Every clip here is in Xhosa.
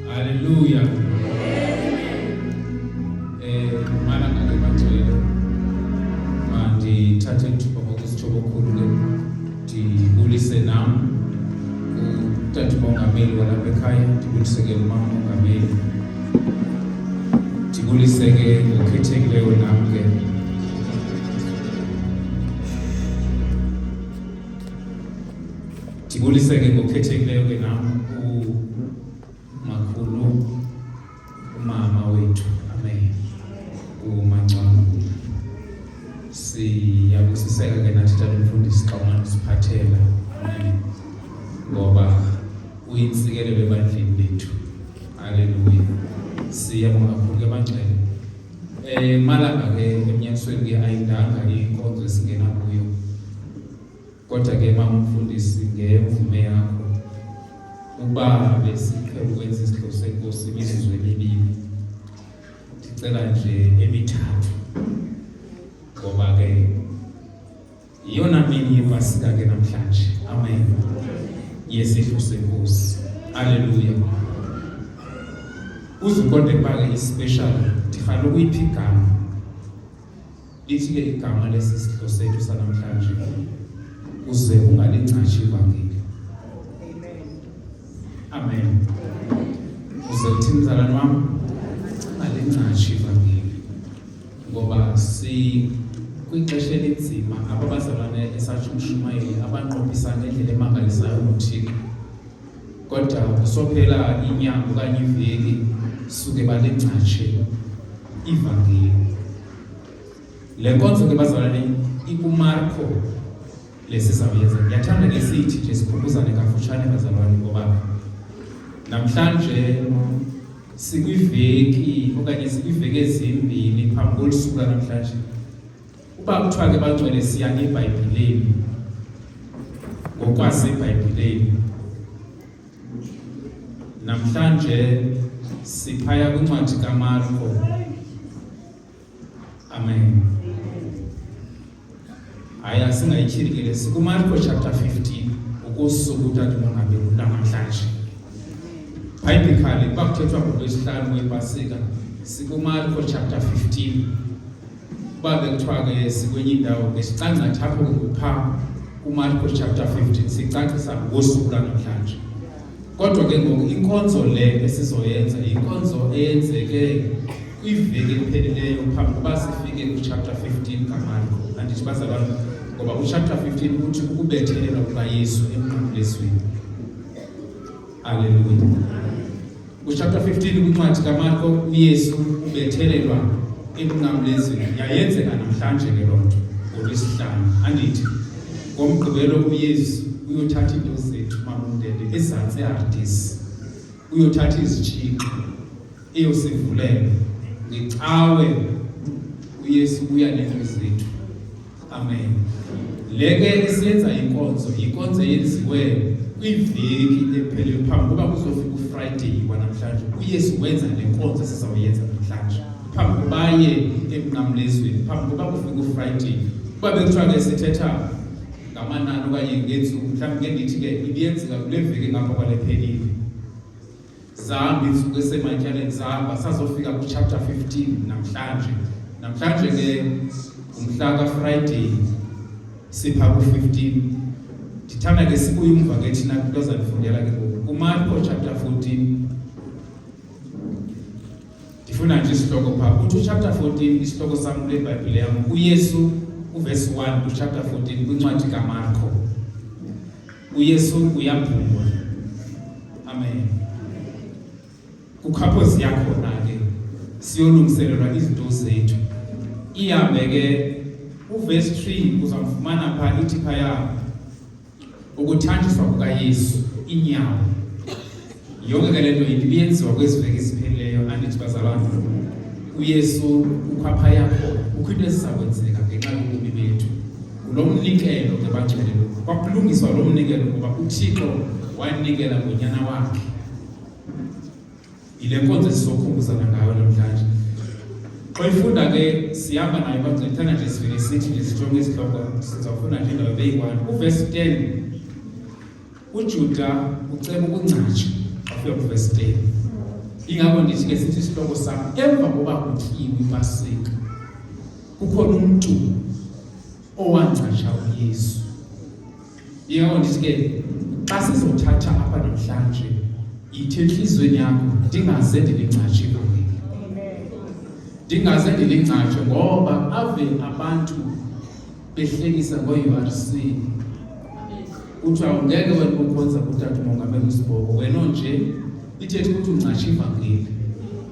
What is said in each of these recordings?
Haleluya. Eh, mana ngale macela mandithathe ithuba ngokusitsho kokhulu ke ndibulise nam utata umongameli walapha ekhaya ndibulise ke umama umongameli ndibulise ke ngokhethekileyo nam ke Ndibulise ke ngokhethekileyo ke nam umakhulu umama wethu amen umangcwabula siyabusiseka ke nathi tata umfundisi xa umane usiphathela amen ngoba uyintsikelelo ebandleni lethu haleluya siyabonga kakhulu ke bangcwele um malanga ke emnyakisweni ke ayindanga inkonzo esingena kuyo Kodwa ke mama umfundisi ngemvume yakho ukuba besiqhela ukwenza isigqibo senkosi imizuzu emibini ndicela nje emithathu ngoba ke yiyona mini yepasika ke namhlanje amen yesidlo senkosi aleluya uzukonde kuba ke ispecial ndifanele ukuyiphi igama Lithi-ke igama lesi sidlo sethu sanamhlanje uze ungalingcashi ivangeli. Amen. Uze uthi mzalwane wami ungalingcashi ivangeli ngoba si kwixesha elinzima ababazalwane esathi umshumayeli abanqophisa ngendlela emangalisayo ngothixo kodwa kusophela inyanga okanye iveki suke balingcatshe ivangeli le nkonzo ke bazalwane ikumarko lesizawuyenza ndiyathanda ke sithi nje sikhumbuzane kafutshane bazalwane ngoba namhlanje sikwiveki okanye sikwiveki ezimbini phambi kolusuku lwanamhlanje Uba kuthiwa ke bangcwele siya ngebhayibhileni ngokwasebhayibhileni namhlanje siphaya kwincwadi kamarko amen hayi asingayityhili ke le sikumarko chapter 15 ukusuku utadimongabeli namhlanje biblically kwakuthethwa ngolwesihlanu wepasika sikumarko chapter 15 uba bekuthiwa ke sikwenye indawo ke sicangcatha apho kupha kumarko chapter 15 sicacisa ngosuku lanamhlanje kodwa ke ngoku inkonzo le esizoyenza yinkonzo eyenzeke kwiveki ephelileyo phambi kuba sifike kuchapter 15 kamarko andithi bazalwana ngoba uchapter 15 kuthi ukubethelelwa kukayesu emnqamlezweni aleluya Kuchapter 15 kwincwadi kaMarko uYesu ubethelelwa ekunqamlezweni yayenzeka namhlanje ke loo nto ngolwesihlanu andithi ngomgqibelo uyesu uyothatha iinto zethu mamundende ezantsi eardisi uyothatha izitshixo eyosivulela ngecawe uyesu uya neento zethu Amen. Le ke esiyenza inkonzo, inkonzo yenziwe kwiveki ephele phambi kokuba kuzofika uFriday kwanamhlanje. UYesu wenza le nkonzo esizawuyenza namhlanje. Phambi kokuba aye emnqamlezweni, phambi kokuba kufike uFriday. Kuba bekuthiwa ke sithetha ngamanani okanye ngeentsuku, mhlawumbi ke ndithi ke ibiyenzeka kule veki ngapha kwale phelile. zihamba iintsuku esematyaleni zihamba sazofika kwichapter 15 namhlanje namhlanje ke ngumhla kafriday sipha ku-15 ndithanda ke sibuye umva ke thina kwinto azandifundela ke ngoku kumarko chapter 14 ndifuna nje isihloko phaa kuthi uchapter 14 isihloko sam kule bhayibhile yam uyesu uvesi 1 kuchapter 14 kwincwadi kamarko uyesu uyaphumula amen kukhaphozi yakhona ke siyolungiselelwa izinto zethu ihambe ke uvesi 3 uzamfumana pha ithi phaya ukuthanjiswa kukayesu inyawo Yonke ke le nto ibi yenziwa kwezi veki ziphelileyo andithi bazalwana uyesu kukho apha yakho kukho into eziza kwenzeka ngenxa yobomi bethu ngulo mnikelo ke bajelelo kwakulungiswa lo mnikelo ngoba uthixo wanikela ngonyana wakhe yile nkonzo esizokhumbuzana ngayo namhlanje xa ifunda ke sihamba nayo bancithana nje sivele sithi nje sijonge isihloko sizawufunda nje indawo beyi-one uvesi ten ujuda uceba ukungcatsha wafika kuvesi 10 ingako ndithi ke sithi isihloko sam emva koba kutyiwe ipasika kukhona umntu owangcatsha uyesu ingako ndithi ke xa sizothatha apha namhlanje yithi entliziyweni yakho ndingaze ndilingcatshe kuni ndingaze ndilingcatshe ngoba ave abantu behlekisa ngoURC kuthiwa ngeke wena ukhonza kutata umongameli usiboko wena onje ithetha ukuthi ungcatsha ivangeli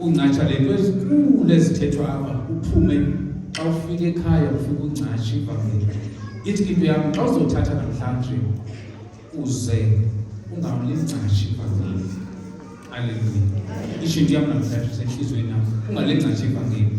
ungcatsha le nto ezikhulu ezithethwa apha uphume xa ufika ekhaya ufike ungcatsha ivangeli ithi into yam xa uzothatha namhlanje uze ungamlingcashi ivangeli aleluya isho into yam namhlanje usenthliziyweni yam ungalingcashi ivangeli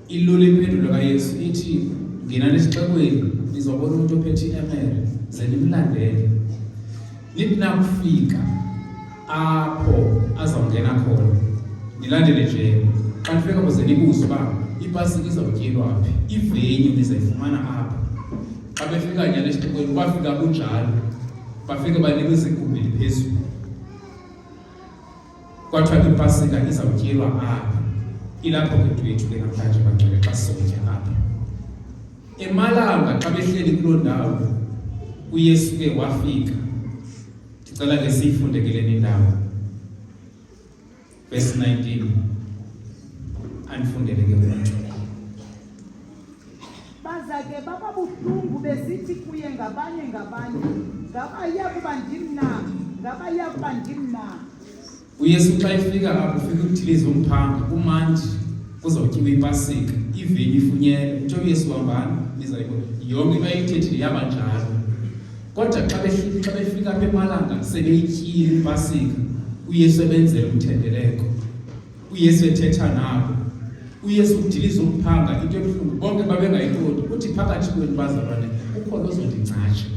Ilula impendulo kaYesu ithi ngena nesixekweni nizobona umntu ophethe iemere ze nimlandele nithi nakufika apho azawungena khona nilandele nje xa nifika kuze nibuze uba ibhasi izawutyelwa phi ivenyu nizayifumana apho xa befika nyana esixekweni bafika kunjalo bafike banikwe izigumbi phezulu Kwathiwa ke ipasika izawutyelwa apha ilapho ke into yethu ke namhlanje bangcwele xa sizokutya apha emalanga xa behleli kuloo ndawo uyesu ke wafika ndicela ke siyifunde ke leni ndawo verse 19 andifundele ke umntu Baza ke baba buhlungu besithi kuye ngabanye ngabanye, ngaba iya kuba ndim na? Ngaba iya kuba ndim na? UYesu xa efika apho ufika ukudiliza umphanga kumandi kuzawutyiwa ipasika iveni ifunyele utsho uyesu hambani nizayibona yonke into ayithethile yaba njalo kodwa xa xa befika apha emalanga sebeyityile ipasika uyesu ebenzela umthendeleko uyesu ethetha nabo uyesu udiliza umphanga into ebuhlungu bonke babengayiqondi uthi phakathi kwenu bazalwane ukhona ozondingcatsha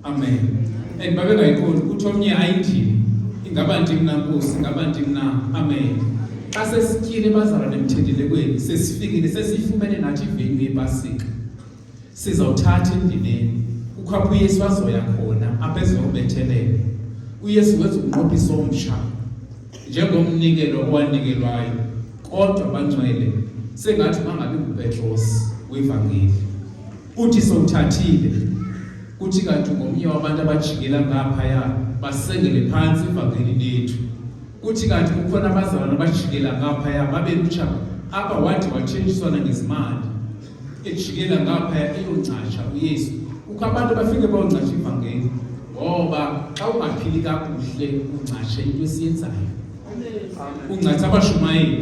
amen and babengayiqondi ukuthi omnye ayindini ingaba ndim na nkosi ingaba ndim na amen xa sesityile bazalwane emthendelekweni sesifikile sesiyifumene nathi ivenu yepasika sizawuthatha endibeni kukho apho uyesu azoya khona apho ezokubetheleka uyesu wenza umnqophiso omtsha njengomnikelo owanikelwayo kodwa bancwele sengathi bangabi ngupetros wevangeli uthi sowuthathile kuthi kanti ngomnye wabantu abajikela ngaphaya basengele phantsi ivangeli lethu kuthi kanti kukhona abazalwana abajikela ngaphaya babe lutsha apha wathi watshentshiswana ngezimali ejikela ngaphaya eyongcasha uyesu kukho abantu bafike bayongcasha ivangeli ngoba xa ungaphili kakuhle ungcashe into esiyenzayo ungcasha abashumayeli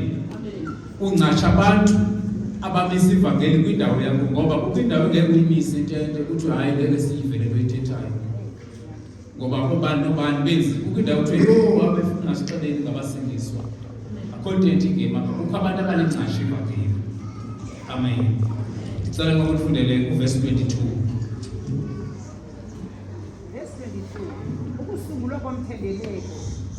ungcasha abantu abamisa ivangeli kwindawo yakho ngoba kukho indawo engeke uyimise intente kuthiwe hayi ngeke siyive le nto ithethayo ngoba kubani nobani benzi kukho indawo kuthiwa yho wabefuna sixeleni ngabasindiswa akho nto ethi ngema kukho abantu abanengcashi evakile amen ndicela ngoku ndifundele uvesi 22 ukusungulwa komthendeleko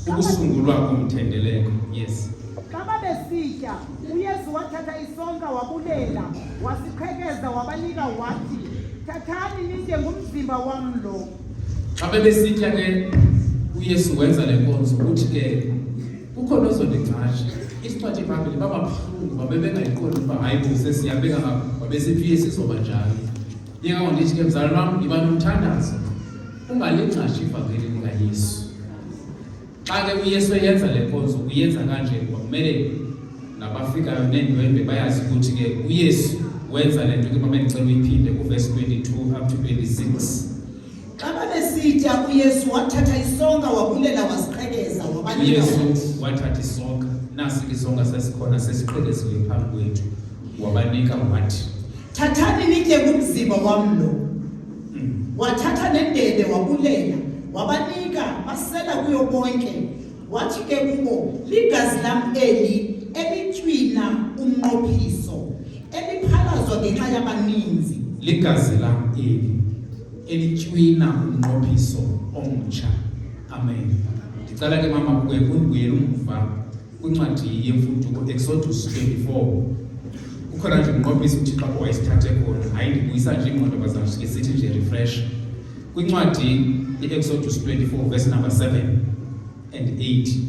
ukusungulwa komthendeleko yes xa babesitya uyesu wathatha isonka wabulela wasiqhekeza wabanika wathi thathani nitye ngumzimba wam lo xa bebesitya ke uyesu wenza le nkonzo ukuthi ke kukho nozondingcasha isiphathi phambili bababuhlungu babebengayiqondi ukuba hayi bo sesiyabeka ngabo babesithi uyesu izoba njalo yeka ndithi ke mzalwana wam ndiba nomthandazo ungalingcasha ivangeli likayesu Xa ke uYesu eyenza le nkonzo uyenza kanje kuba kumele nabafikayo neendwendwe bayazi ukuthi ke uYesu wenza le nto ke mama ndicela uyiphinde kuvesi 22 up to 26 xa babesitya uyesu wathatha isonka wabulela waziqhekeza wabayesu wathatha isonka nasi ke isonka sasikhona sesiqhekeziwe phambi kwethu wabanika wathi thathani nitye kumzimba wam lo wathatha nendebe wabulela wabanika basela kuyo bonke wathi ke kubo ligazi lam eli elitywina umnqophiso eliphalazwa ngenxa yabaninzi ligazi lam eli elitywina umnqophiso omtsha amen ndicela ke mama kuye kundibuyela umva kwincwadi yemfuduko exodus 24 kukhona nje umnqophisi uthixo apho wayesithathe khona hayi ndibuyisa nje ingqondo bazamsike sithi nje refresh kwincwadi i-exodus 24 verse number 7 and 8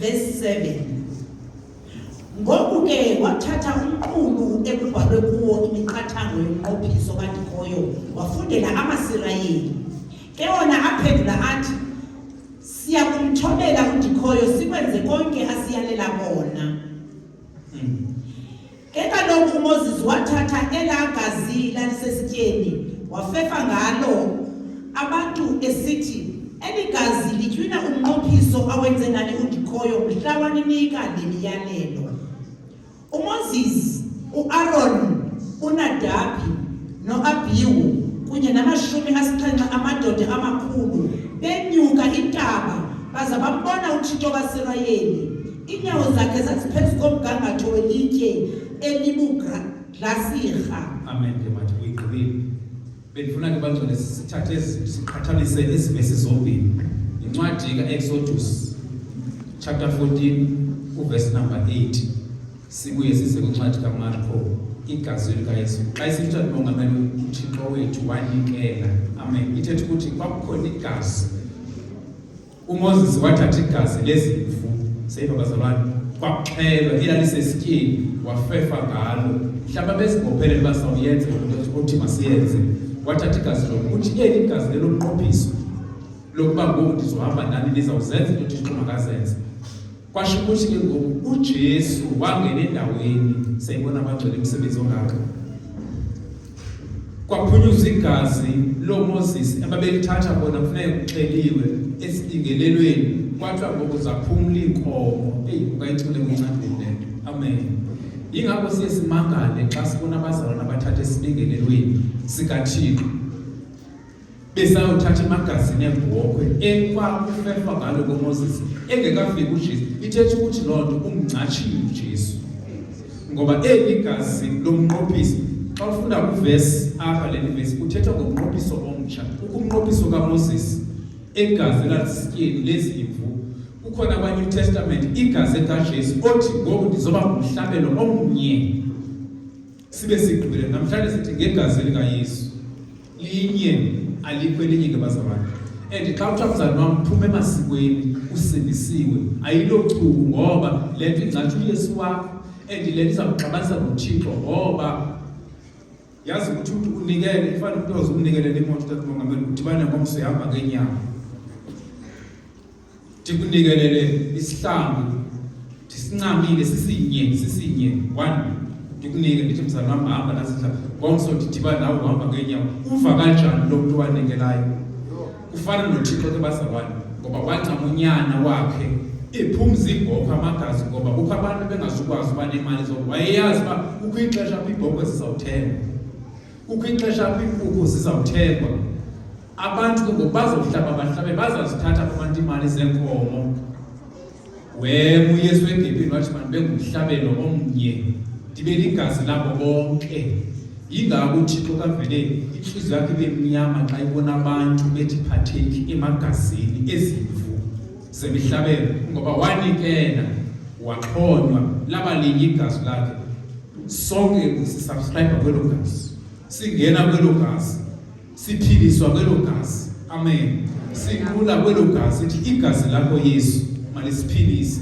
Verse 7 Ngoku ke wathatha umqulu ekubhalwe kuwo imiqathango yomnqophiso kadikhoyo wafundela amaSirayeli. Ke wona aphendula athi, Siya kumthobela udikhoyo sikwenze konke asiyalela kona. Ke kaloku uMoses wathatha elaa gazi lalisesityeni wafefa ngalo abantu esithi eli gazi litywina umnqophiso awenze ngani undikhoyo mhla waninika le miyalelo uMoses uAron uNadabi noAbihu kunye namashumi asixhenxe amadoda amakhulu benyuka intaba baza bambona uThixo kaSirayeli Iinyawo zakhe zaziphezu komgangatho welitye elibugrasirha. Amen ke mathi uyigqibile. Bendifuna ke bangcwele sithathe ezi- siqhathanise ezi vesi zombini. Yincwadi ka-Exodus chapter 14 uvesi number 8. Sibuye size kwincwadi kaMarko igazi likaYesu. Xa isitsha libongamela uThixo wethu wanikela. Amen. Ithetha ukuthi kwakukhona igazi UMoses wathatha igazi lezimvu seyiva bazalwane kwaxhelwa ilalisesityeni wafefa ngalo mhlawumbi abezibophelele uba sawuyenze othi masiyenze wathatha igazi lo kuthi eli igazi leloqophiso lokuba ngoku ndizohamba nani nizawuzenza into othixo makazenze kwasho ukuthi ke ngoku uJesu wangena endaweni sayibona abagcwele imisebenzi ongaka kwaphunyuzwa igazi loMoses ababelithatha bona kufuneka kuxeliwe esilingelelweni kwathiwa ngoku zaphumla iinkomo eyi ungayicule kuncandile le nto amen yingakho siye simangale xa sibona abazalwana abathatha esilingelelweni sikathixo besayothatha imagazini ebhokhwe ekwakufefwa ngalo komoses engekafiki ujesu ithetha ukuthi loo nto umncatshile ujesu ngoba eli gazi lomnqophiso xa ufunda kwivesi apha le vesi kuthethwa ngomnqophiso omtsha ukumnqophiso kamoses egazi elalisityeni lezimvu kukhona kwanew testament igazi ekajesu othi ngoku ndizoba ngumhlabelo omnye Sibe sigqibile namhlanje sithi ngegazi likaYesu linye alikho elinye ke bazalwane and xa kuthiwa mzalwane wam phuma emasikweni usindisiwe ayilochuku ngoba le nto ingcatsha uyesu wakho and le nto izawugxabanisa nothixo ngoba yazi ukuthi umntu unikele ifana umntu oze umnikelele imoto tatmongameli udibane ngomso ihamba ngenyama ndikunikelele isihlambi ndisincamile sisinye sisinye one ndikunike ndithi mzali wam hamba nazidla ngomso ndidhiba nawe uhamba ngeenyawo uva kanjani lo mntu wanikelayo kufana nothixo ke bazalwane ngoba wancama unyana wakhe ephumza ibhokhwe amagazi ngoba kukho abantu bengazukwazi uba nemali zo wayeyazi uba kukho ixesha apho ibhokhwe zizawuthengwa kukho ixesha apho iinkukhu zizawuthengwa abantu ke ngoku bazohlaba bahlabe bazazithatha kubantu iimali zeenkomo wem uyesu egepini wathi mani bengumhlabelo omnye ndibe ligazi labo bonke yingako uthixo kavele intliziyo yakhe ibe mnyama xa ibona abantu bethi phatheki emagazini ezimvu zemihlabelo ngoba wanikela waxhonywa laba linye igazi lakhe sonke sisubscribe kwelo gazi singena kwelo gazi siphiliswa kwelo gazi amen sikhula kwelo gazi ithi igazi lakho yesu malisiphilise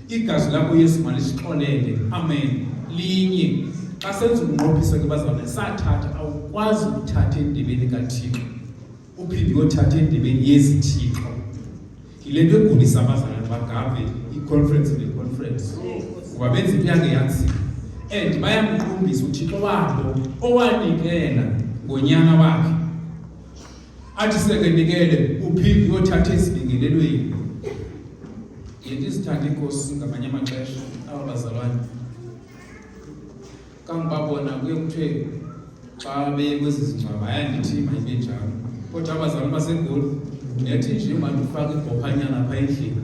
igazi lakho yesu malisixolele amen linye xa senza ukunqophisa ke bazalwane sathatha awukwazi ukuthatha endibeni kathixo uphinde uyothatha endibeni yezithixo yile nto egulisa abazali bagave i-conference ne-conference kuba benza into yangeyazi and bayamqumbisa uthixo wabo owanikela ngonyana wakhe athi sekenikele uphinde uyothatha ezibingelelweni yinto izithanda iinkosi ngamanye amaxesha aba bazalwane kangoba bona kuye kuthiwe xa bekwezi zingcwaba ayandithi mayibe njalo kodwa abazali basegoli nethi nje mandifake ibhophanyana pha endlini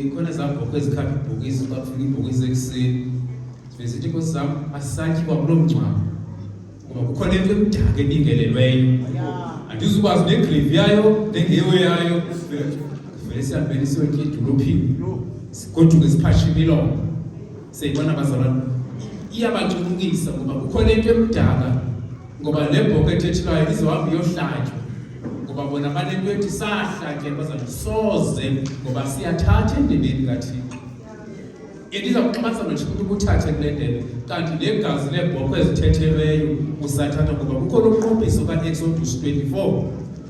ikhona zabhokho ezikhapha ibhokisi xa kufika ibhokisi ekuseni zithi inkosi zam asisatyiwa kulo mngcwabo ngoba kukhona into emdaka ebingelelweyo andizukwazi negrevi yayo nengewe yayo vele siyabhele siyotya edolophini sigoduke siphashe imilomo Siyibona bazalwane, iyabancumukisa ngoba kukhona into emdala ngoba le bhoka ethethilayo izohamba iyohlatywa ngoba bona banento ethi sahlatyela bazalwane soze ngoba siyathatha endebeni kathixo endiza kuxhasa nothi ukuthi ukuthathe kule ndebe kanti le gazi leebhokhwe ezithethelweyo usathatha ngoba kukhona umqophiso kaexodus 24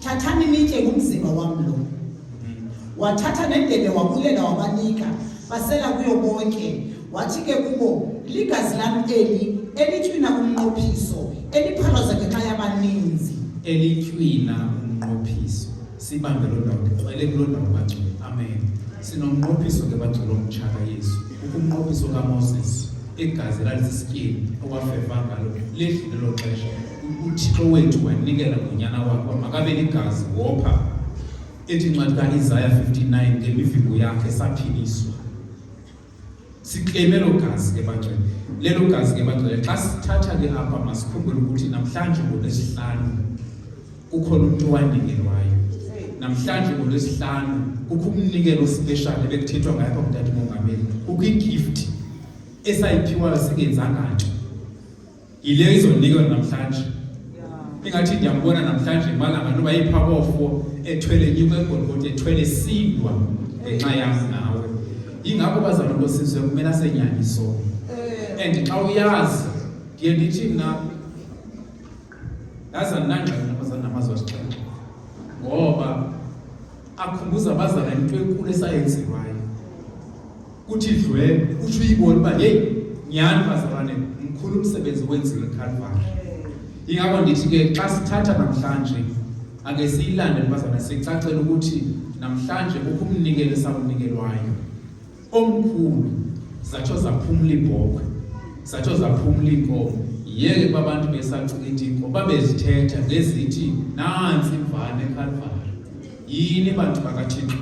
thathani nitye ngumzimba wam lo mm-hmm. wathatha nendebe wabulela wabanika basela kuyo bonke wathi ke kubo ligazi lam eli elitywina umnqophiso eliphalaza ngenxa yabaninzi elitywina umnqophiso sibambe loo ndawo ndiqwele kuloo ndawo baculi amen sinomnqophiso ke baculi omtshaka yesu ukumnqophiso kamoses igazi lalisisityebi okwafeva ngalo ledlule lo xesha uthixo wethu wanikela ngonyana wakho makabe ligazi wopha ethi incwadi kaisaya 59 ngemivimbo yakhe saphiliswa sikleme lo gazi ke bangcwele lelo gazi ke bangcwele xa sithatha ke apha masikhumbule ukuthi namhlanje ngolwesihlanu kukhona umntu owanikelwayo namhlanje ngolwesihlanu kukho umnikelo ospeshali ebekuthethwa ngayo apha kudade mongameli kukho igift esayiphiwayo singenzanga nto yile izonikwa namhlanje ingathi ndiyambona namhlanje malanga ntoba yipha kofo ethwele nyuka egolgoti ethwele sindwa ngenxa yam nawe yingako bazalwa bosizwe kumele asenyanyiso eh. and xa uyazi ndiye ndithi mna yazi andinangxaki nabazali namazwi asixhenxe ngoba akhumbuza abazala into enkulu esayenziwayo kuthi dlwe utsho uyibone uba yeyi nyhani bazalwane mkhulu umsebenzi wenziwe ekalvari ingako ndithi ke xa sithatha namhlanje ake siyilande bazalwane sicacele ukuthi namhlanje kukho umnikelo esawunikelwayo omkhulu zatsho zaphumla iibhokhwe zatsho zaphumla iinkomo yeke babantu besacinga inkomo babezithetha ngezithi nantsi imvane ekalvari yini bantu bakathixo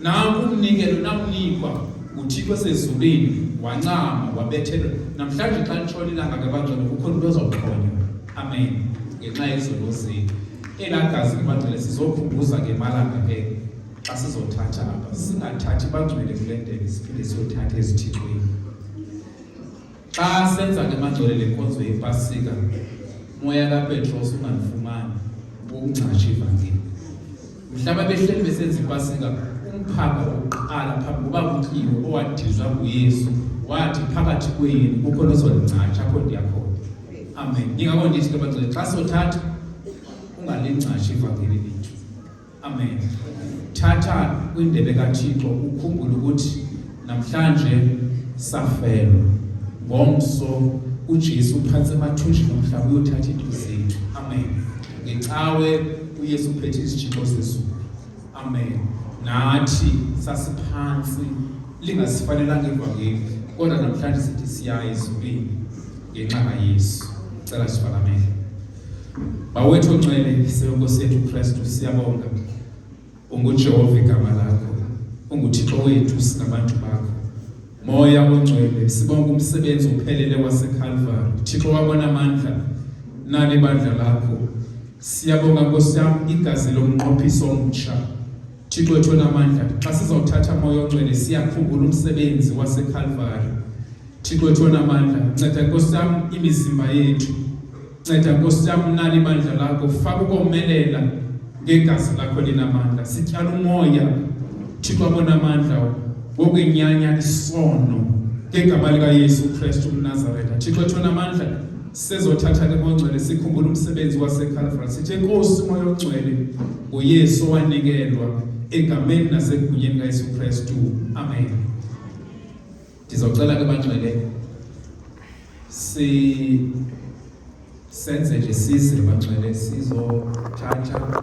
Nanku umnikelo namnikwa uThixo osezulwini wancama wabethelwa. Namhlanje xa litshona ilanga ke bangcwele kukho into ozoxhonywa. Amen. Ngenxa yezono zethu. Elaa gazi libangcwele sizokhumbuza ke malanga ke xa sizothatha apha singathathi bangcwele kule ndebe siphinde siyothatha ezithixweni Xa senza ke mangcwele le nkonzo yepasika moya kapetros ungalifumani ukungcatsha ivangeli mhlaba behleli besenza ipasika umphanga wokuqala phambi kuba kutyiwe owadizwa nguyesu wathi phakathi kwenu kukho nozolingcatsha apho ndiyakhona amen ndingako ndithi ke bangcwele xa sothatha ungalingcatsha ivangeli Amen. Thatha kwindebe kaThixo ukhumbule ukuthi namhlanje safelwa ngomso uJesu phantsi emathunjini omhlaba uyothatha into zethu. Amen. Ngecawe uYesu uphethe isitshixo sezulu. Amen. Nathi sasiphansi lingasifanelanga ivangeli kodwa namhlanje sithi siyaye ezulwini ngenxa kaYesu. Cela sifakamele. Bawethu onxele seNkosi yethu Kristu siyabonga. UnguJehova igama lakho. UnguThixo wethu singabantu bakho. Moya ongcwele sibonga umsebenzi ophelele waseKalvari. Thixo wabona amandla nani bandla lakho. Siyabonga Nkosi yam igazi lomnqophiso omtsha. Thixo wethu onamandla xa sizawuthatha moya ongcwele siyakhumbula umsebenzi wasekhalvari Thixo wethu onamandla nceda nkosi yam imizimba yethu nceda nkosi yam unani ibandla lakho faka ukomelela ngegazi lakho linamandla sityala umoya Thixo abonamandla wokwenyanya isono ngegama likayesu kristu umnazaretha Thixo wethu onamandla Sizothatha ke mongcwele sikhumbula umsebenzi waseCalvary. Sithe Nkosi moya ongcwele nguYesu owanikelwa egameni nasegunyeni kaYesu Kristu. Amen. Ndizocela ke bangcwele si senze nje size bangcwele sizothatha